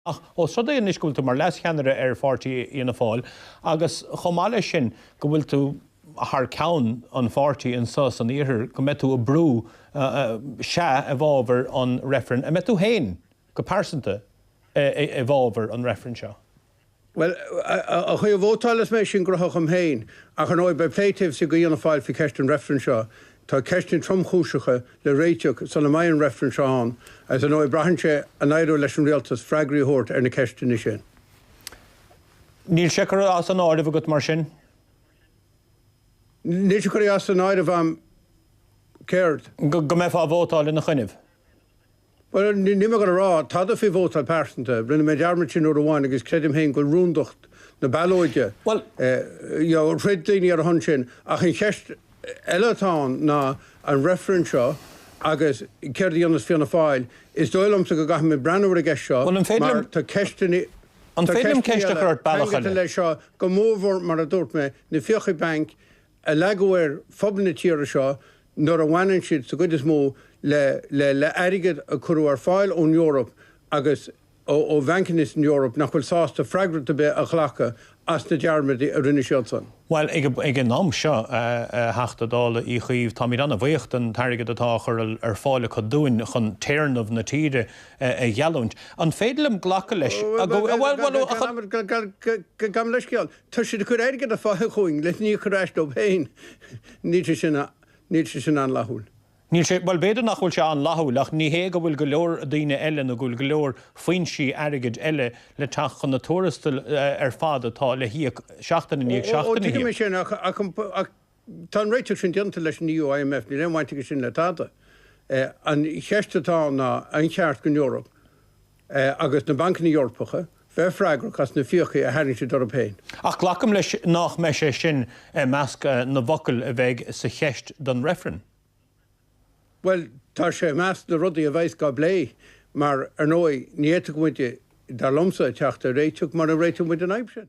Ach os rud é anois go bhfuil tú mar leas-cheannaire ar pháirtí Fhianna Fáil agus chomh maith leis sin go bhfuil tú thar ceann an pháirtí anseo san iarthar go mbeidh tú ag obair, sea, i bhfábhar an reifrinn, an mbeidh tú féin go pearsanta i bhfábhar an reifrinn seo? Bhuel, an chaoi a vótálfas mé sin gnotha dhom féin ach ar ndóigh beidh plé taobh istigh de Fhianna Fáil faoi cheist an reifrinn seo. Tá ceisteanna tromchúiseacha le réiteach sula mbeidh an reifreann seo ann agus ar ndóigh braitheann sé an éireoidh leis an Rialtas freagraí a thabhairt ar na ceisteanna sin. Níl sé curtha as an áireamh agat mar sin? Níl sé curtha as an áireamh agam. Céard? Go mbeifeá ag vótáil ina choinne? Bhuel, níl mé ag gabháil a rá tada faoi vótáil pearsanta. Rinne mé an dearmad sin uair amháin agus creidim féin gur rúndacht na ballóide, throid daoine ar a shon sin. Ach an cheist eile atá ann ná an reifreann seo agus céard a dhéanfas Fianna Fáil. Is dóigh liomsa go gcaithfimid breathnú ar an gceist seo mar tá ceisteanna eile ceangailte leis seo, go mórmhór, mar a dúirt mé, na fiacha bainc. a leagadh ar phobal na tíre seo nuair a bhaineann siad sa gcuid is mó le airgead a cuireadh ar fáil ón Eoraip agus ó bhancanna san Eoraip nach bhfuil sásta freagracht ar bith a ghlacadh as na dearmadaí a rinne siadsan. Bhuel, ag an am seo, a Theachta Dála Uí Chuív, táimid an-bhuíoch den airgead atá á chur ar fáil acu dúinn chun téarnamh na tíre a gheallúint. An féidir liom glacadh leis, go bhfuil, bhuel, bhuel, a Gan amhras, gabhaim leithscéal. Tá siad ag cur airgead ar fáil chugainn lena chur ar ais dóibh féin. Níl sé sin, níl sé sin an-fhlaithiúil. Níl sé, bhuel, b'fhéidir nach bhfuil sé an-fhlaithiúil ach ní hé go bhfuil go leor daoine eile nó go bhfuil go leor foinsí airgid eile le teacht chun na tuarastail ar fad atá le híoc seachtain i ndiaidh seachtaine. Ó, tuigim é sin ach, ach, ach, Tá an réiteach sin déanta leis an EU, IMF, níl aon bhaint aige sin le tada. An cheist atá ann ná an cheart don Eoraip, agus na bancanna Eorpacha, bheith freagrach as na fiacha a tharraing siad orthu féin. Ach glacaim leis nách mbeidh sé sin i measc na bhfocal a bheidh sa cheist don reifreann? Bhuel, tá sé i measc na rudaí a bheidheas dhá bplé, mar ar ndóigh, ní fhéadfadh muide, dar liomsa, teacht ar réiteach mura réiteoidh muid an fhadhb sin.